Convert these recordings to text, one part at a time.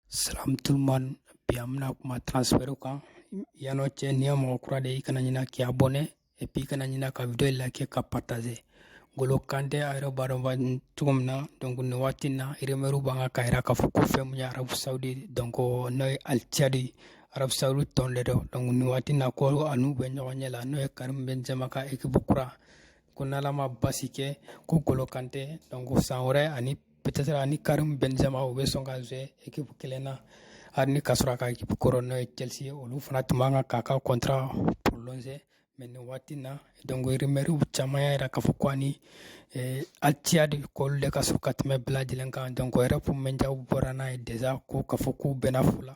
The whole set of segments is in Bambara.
Salam tout le monde bi an bɛna kuma transfert kan yan'o cɛ n'i ye mɔgɔ kura de ye i kana ɲina k'i abonné et puis i kana ɲina ka video liker ka partager Ngolo Kante a yɛrɛ b'a dɔn cogo min na donc nin waati in na rumeur b'a kan k'a jira k'a fɔ ko fɛn min ye Arabie Saoudite donc n'o ye Al-Ittihad ye Arabie Saoudite tɔn de don donc nin waati in na ko a n'u bɛ ɲɔgɔnye la n'o ye Karim Benzema ka équipe kura ko n'Ala ma basi kɛ ko Ngolo Kante donc san wɛrɛ ani peut-être ani Karim Benzema u bɛ sɔn ka jouer équipe kelen na hali ni k'a sɔrɔ a ka équipe kɔrɔ n'o ye Chelsea ye olu fana tun b'a kan k'a ka contrat prolonger mais nin waati in na donc rumeur caman y'a jira k'a fɔ ko ani Al-Ittihad k'olu de ka surun ka tɛmɛ bɛɛ lajɛlen kan donc o yɛrɛ kun médiaw bɔra n'a ye déjà ko k'a fɔ k'u bɛnna fo la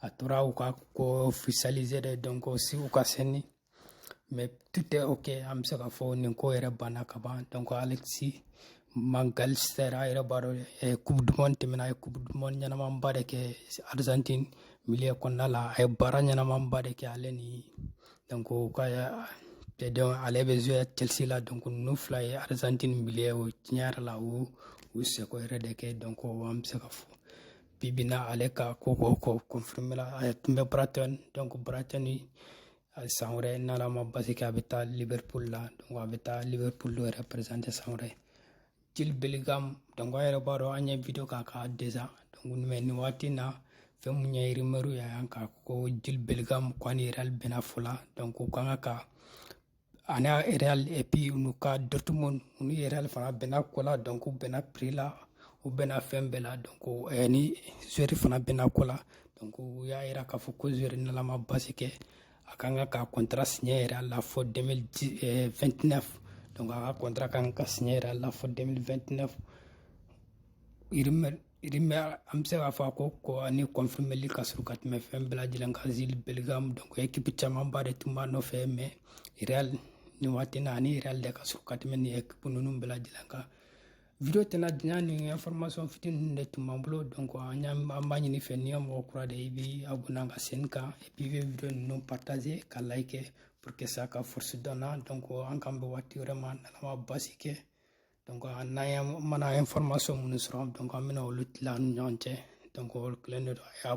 a tora u ka ko officialiser de donc aussi u ka signer mais tout est ok an bɛ se k'a fɔ nin ko yɛrɛ banna ka ban donc Alexis Mac Allister a yɛrɛ b'a dɔn coupe du monde tɛmɛna a ye coupe du monde ɲɛnamaba de kɛ argentine milieu kɔnɔna la a ye baara ɲɛnamaba de kɛ ale ni donc ka tɛ dɔn ale bɛ jouer chelsea la donc ninnu fila ye argentine milieu o tiɲɛ yɛrɛ la o u seko yɛrɛ de kɛ donc an bɛ se k'a fɔ bi bi na ale ka ko ko ko confirméla a tun bɛ Brighton donc Brighton a san wɛrɛ n'ala ma basi kɛ a bɛ taa Liverpool la donc a bɛ taa Liverpool représenter san wɛrɛ Jude Bellingham donc an yɛrɛ b'a dɔn an ye video k'a kan déjà donc mais nin waati na fɛn min ye rumeur ye yan ka ko Jude Bellingham ko ani Real bɛnna fo la donc u kan ka ani real et puis olu ka dortmund olu ni real fana bɛnna ko la donc u bɛnna prix la u bɛnna fɛn bɛɛ la donc eh, ni joueur fana bɛnna ko la donc u y'a yira k'a fɔ ko joueur n'ala ma basi kɛ a kan ka ka contrat signé real la fo 2029 donc a ka contrat kan ka signé real la fo 2029 Irimɛ an bɛ se k'a fɔ ko ko ni kɔnfibli ka sɔrɔ ka tɛmɛ fɛn bɛɛ lajɛlen ka z bɛ dɔn kip camanba de tun b'a nɔfɛ mɛ ni waati na ani yɛrɛ de ka sɔrɔ ka tɛmɛ ni kip ninnu bɛɛ lajɛlen kan v tɛna diɲɛ ni fmasɔn fit ninnu de tun b'an bolo dɔn an an b'a ɲini fɛ ni mɔgɔ kura de i bɛ a bɔn ka sen kan ipi bɛ v ninnu patazse ka layi kɛ pur que sa ka forosidɔn dɔn an kan bɛ waati wɛrɛ ma nama basi kɛ donc an yɛrɛ mana information minnu sɔrɔ donc an bɛna olu tila an ni ɲɔgɔn cɛ donc o kɛlen de don a y'a